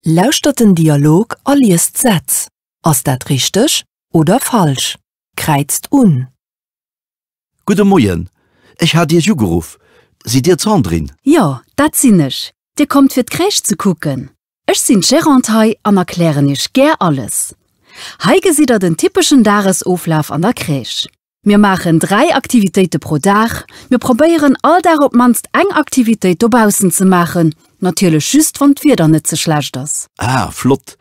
Lauschtert den Dialog a liest d'Sätz. Ass dat richteg oder falsch? Kräizt un. Gudde Moien. Ech hat Iech ugeruff. Sidd Dir d'Sandrine? Jo, dat sinn ech. Dir kommt fir d'Crèche ze kucken? Ech sinn d'Gérante hei an erklären Iech gär alles. Hei gesitt Der den typeschen Dagesoflaf an der Crèche. Mir maachen dräi Aktivitéite pro Dag. Mir probéieren all Dag op d'mannst eng Aktivitéit dobaussen ze maachen, natierlech just wann d'Wieder net ze schlecht ass. Ah, flott!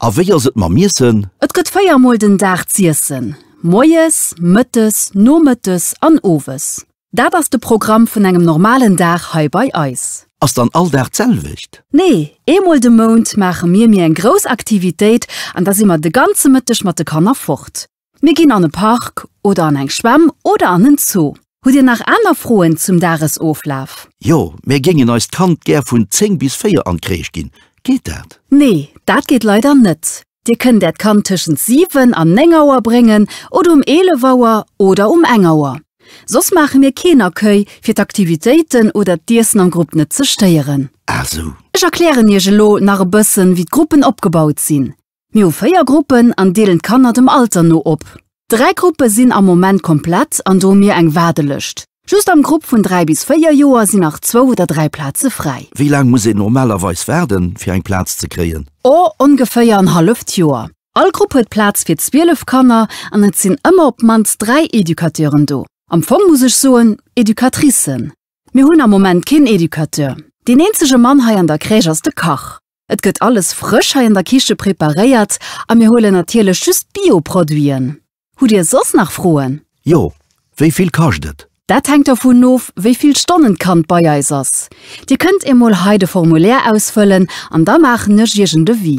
A wéi ass et mam Iessen? Et gëtt véier mol den Dag z'iessen, moies, mëttes, nomëttes an owes. Dat ass de Programm vun engem normalen Dag hei bei eis. Ass dann all Dag d'selwecht? Nee, eemol de Mount maache mir mir eng grouss Aktivitéit an da si mer de ganze Mëtteg mat de Kanner fort. Mir ginn an e Park oder an eng Schwämm oder an en Zoo. Hutt Dir nach aner Froen zum Dagesoflaf? Jo, mir géingen eist Kand gär vun 10 bis 4 an d'Kreesch ginn. Geet dat? Nee, dat geet leider net. Dir kënnt Äert Kand tëschent 7 an 9 Auer bréngen oder um 11 Auer oder um eng Auer. Soss maache mir keen Accueil, fir d'Aktivitéiten oder d'Iessen am Grupp net ze stéieren. Ah sou. Ech erklären Iech elo nach e bëssen, wéi d'Gruppen opgebaut sinn. Mir hu véier Gruppen an deelen d'Kanner dem Alter no op. Dräi Gruppe sinn am Moment komplett an do hu mir eng Waardelëscht. Just am Grupp vun dräi bis véier Joer sinn nach zwou oder dräi Plaze fräi. Wéi laang muss een normalerweis waarden, fir eng Plaz ze kréien? O, ongeféier en halleft Joer. All Grupp huet Plaz fir zwielef Kanner an et sinn ëmmer op d'mannst dräi Educateuren do. Am Fong muss ech soen, Educatricen. Mir hunn am Moment keen Educateur. Deen eenzege Mann hei an der Crèche ass de Kach. Et gëtt alles frësch hei an der Kiche preparéiert a mir huelen natierlech just Bio-Produiten. Hutt Dir soss nach Froen? Jo, wéi vill kascht et? Dat hänkt dovun of, wéi vill Stonnen d'Kand bei eis ass. Dir kënnt emol hei de Formulaire ausfëllen an da maachen ech Iech en Devis.